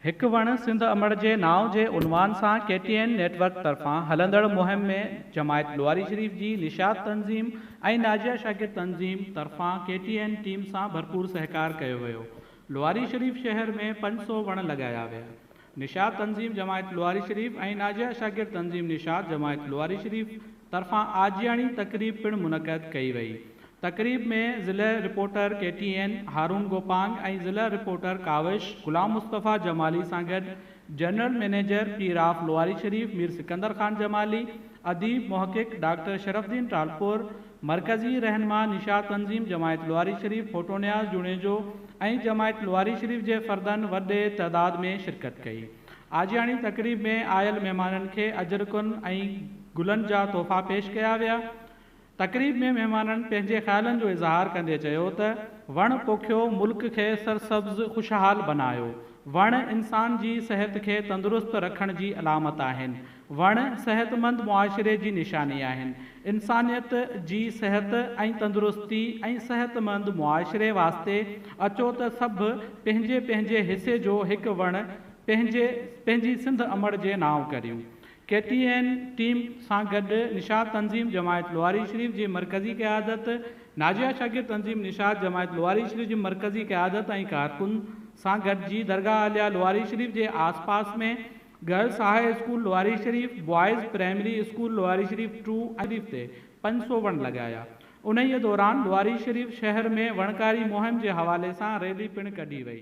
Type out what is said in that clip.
هڪ وڻ سنڌ امڙ جي نانء جي عنوان سان K T N network طرفان هلندڙ مهم ۾ جماعت لواري شريف جي نشاط تنظيم ۽ ناجيه شاڪر تنظيم طرفان ڪي ٽي اين ٽيم سان ڀرپور سهڪار ڪيو ويو لواري شريف شهر ۾ پنج سؤ وڻ لڳايا ويا نشاط تنظيم جماعت لواري شريف ۽ ناجيه شاڪر تنظيم نشاط جماعت لواري شريف طرفان آجياڻي تقريب پڻ منعقد ڪئي وئي تقريب ۾ ضلع reporter K T N Haroon Gopang ۽ ضلع رپورٽر ڪاوش غلام مصطفيٰ جمالي سان گڏ general manager Pir of Lawari Sharif Mir Sikandar Khan Jamali, اديب محقق ڊاڪٽر شرف الدين ٽالپر، مرڪزي رهنما نشاء تنظيم جماعت لواري شريف ڦوٽو نياز جوڻيجو ۽ جماعت لواري شريف جي فردن وڏي تعداد ۾ شرڪت ڪئي. آجياڻي تقريب ۾ آيل مهمانن کي اجرڪن ۽ گلن جا تحفا پيش ڪيا ويا. تقريب ۾ مهمانن پنهنجي خيالن جو اظهار ڪندي چيو ته وڻ پوکيو ملڪ کي سرسبز خوشحال بنايو، وڻ انسان جي صحت کي تندرست رکڻ جي علامت آهن، وڻ صحتمند معاشري جي نشاني آهن، انسانيت جي صحت ۽ تندرستي ۽ صحتمند معاشري واسطي اچو ته سڀ پنهنجي پنهنجي حصي جو هڪ وڻ پنهنجي پنهنجي سنڌ امڙ جي نانء ڪريون. ڪي ٽي اين ٽيم سان گڏ نشاط تنظيم جماعت لواري شريف جي مرڪزي قيادت، ناجيه شاڪر تنظيم نشاط جماعت لواري شريف جي مرڪزي قيادت ۽ ڪارڪن سان گڏجي درگاهه عليا لواري شريف جي آس پاس ۾ girls high school Lawari Sharif, boys primary school Lawari Sharif two ۽ Sharif تي پنج سؤ وڻ لڳايا. انهيء دوران لواري شريف شهر ۾ وڻڪاري مهم جي حوالي سان ريلي پڻ ڪڍي وئي.